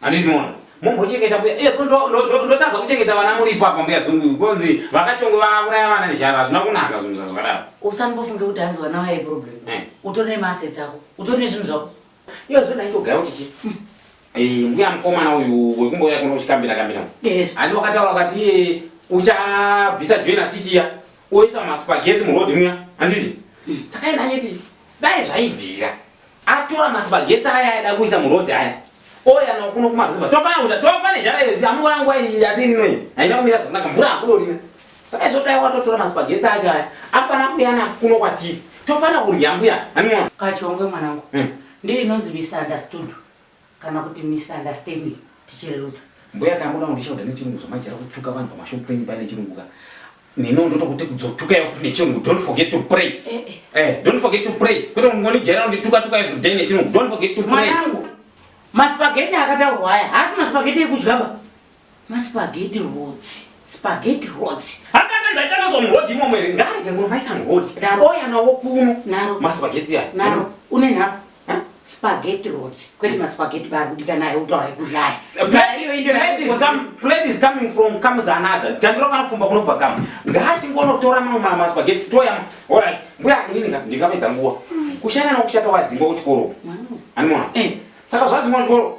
Handiti mona mumbochengeta mbuya eh, ndotadza kuchengeta vana muripo apa mbuya dzungu konzi vakatongwe vauraya vana nezhara hazvina kunaka zvinhu zvazvakadaro usambofunge kuti hanzi vana vaye problem eh. utori nemaasets ako utori nezvinhu zvako iyo zvinhu aitogaya kuti chi hmm. eh, mbuya mukomana uyu wekumbouya kuno uchikambira kambira handi wakataura ukati uchabvisa joina city ya oisa maspagetsi muroad muya handiti hmm. saka enda anyiti dai zvaibvira Atora masipagetsi aya aida kuisa muroad aya. Oya na kuno kuma zuva. Tofana kuta tofa ne jara yezi amura ngwa yati nwe. Haina kumira zvakanaka mvura akulorina. Saka izvo taiwa totora masipagetsi ake aya. Afana kuyana kuno kwatiri. Tofana kurya mbuya. Anwa. Kachongwe mwanangu. Hmm. Ndiri inonzi misunderstood. kana kuti misunderstanding tichirerutsa mbuya ka muda kundishauda nechirungu zvamajera kutuka vanhu pamashop penyu paine chirungu ka nino ndotokuti kudzotuka yafuti nechirungu don't forget to pray eh, eh. eh don't forget to pray kwete kungonijera undituka tuka every day nechirungu don't forget to pray mwanangu maspageti akataurwa aya haasi maspageti ekudya ba Maspaghetti roads. Spaghetti roads. Hakata ndaitata so mroad imo mwere ngarege kuno maisa mroad. Oya na wokuno. Naro. Maspaghetti ya. Naro. Une naro. Spaghetti roads. Kwete maspaghetti bari kudika naye utaura ikushaya. Plate is coming from comes another. Tandiro kana fumba kuno bva kama. Ngachi ngono tora mamwe ma maspaghetti toya. All right. Mbuya ini ndika ndikapedza nguwa. Kushana na kushata wadzimba kuchikoro. Animona. Eh. Saka zvadzimba kuchikoro.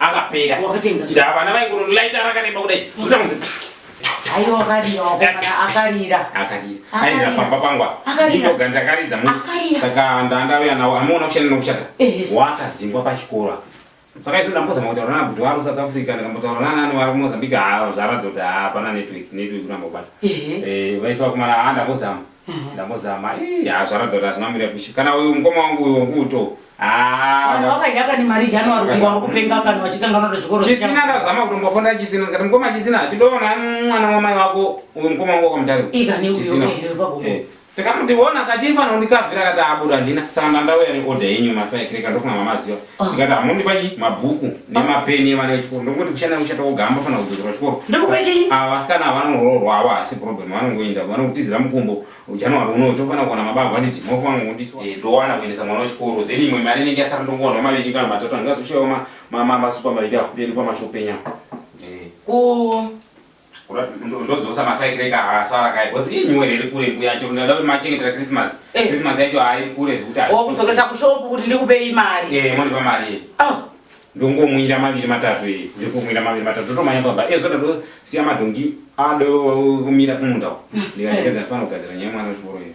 akapera ndavana vaingoro light rakareba kudai kutanzi psiki aiwa akarira wakomana akarira akarira aindira pamba pangwa indoga ndakaridza mu saka ndandauya nawo amuona kushanda nokushata wakadzingwa pachikoro saka izvo ndambozama kutaura nana bhuti waro south africa ndikambotaura nanani wari kumozambique haa zvaratidza kuti hapana network network ndambobata vaisa vakomana haa ndambozama Mhm. ndambozama ii haa zvaratidza kuti hazvina mira kushi kana uyu mukoma wangu uyu wanguto Vanhu vakadya kani mari January kunge vari kupenga kani vachitanga vanoda chikoro chisina ndazama kutombofonda chisina ndikati mukoma chisina chidoona mwana wamai wako uyu mukoma wangu wakamutariko ikani Chisina. uyo here pagomo Eh, ndikamuti wona kachifanira kundikavhira kati abuda handina saka ndandauya neorder yenyu mafaekireka ndofunga mamaziva Ah. ndikati hamundipa chi mabhuku nemapeni evana vechikoro ndongoti kushanda kushata koga hambafanira kudzokera kuchikoro ah, vasikana ava vanoroorwa avo hasi problem vanongoenda vanokutizira mukumbo january uno tofanira kuona mababa anditi mofanira kundiswa eh, ndowana kuendesa mwana wechikoro then imwe mari inenge yasara ndongoona maviri kana matatu andingazoshaiwa masupa maviri akutendekwa mashopenya eh. ndodzosa mafirekreka asara kai bcause ii nyuwere iri kure mbuya chero ndada kuti machengetera christmas eh. christmas yacho hairi kure zvekuti kudzokesa kushopu kuti ndikupei mari e mondipa mari iyi ah. ndongomwira maviri matatu iyi ndiri kumwira maviri matatu ndotomanya baba e zvoda ndosiya madhongi adokumira kumunda uko ndikaekedza ndifanira kugadzira nyaya mwana wechikoro iyo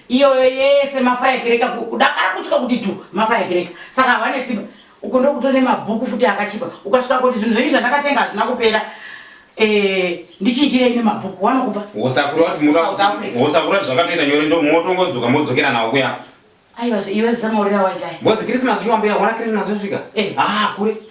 iyoyo yese mafaya kereka kudakara kusvika kuti tu mafaya kereka saka havane tsimba uko ndokutone mabhuku futi akachipa ukasvika kuti zvinhu zvenyu zvandakatenga hazvina kupera eh, ndichiitire ine mabhuku wanokupa wosakura kuti mudawosakura kuti zvakatoita nyore ndo motongodzoka modzokera nawo kuya aiwa iwe zamaurira waitai bozi krisimasi chiwambuya ona krisimasi osvika eh. ah kure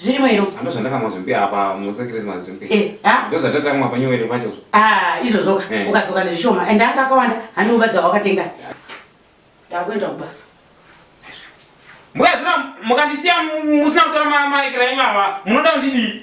zvirimo iro ando zvandakamwa zvimbi apa musa christmas zvimbi eh, ah. ndo zvatatamwa panyowere pacho ah, izvozvo eh. ukadzoka nezvishoma and anga akawanda hanova dzawakatenga ndakuenda kubasa mbuya zvino mukandisiya musina kutora maekera enyu ava munoda kundidii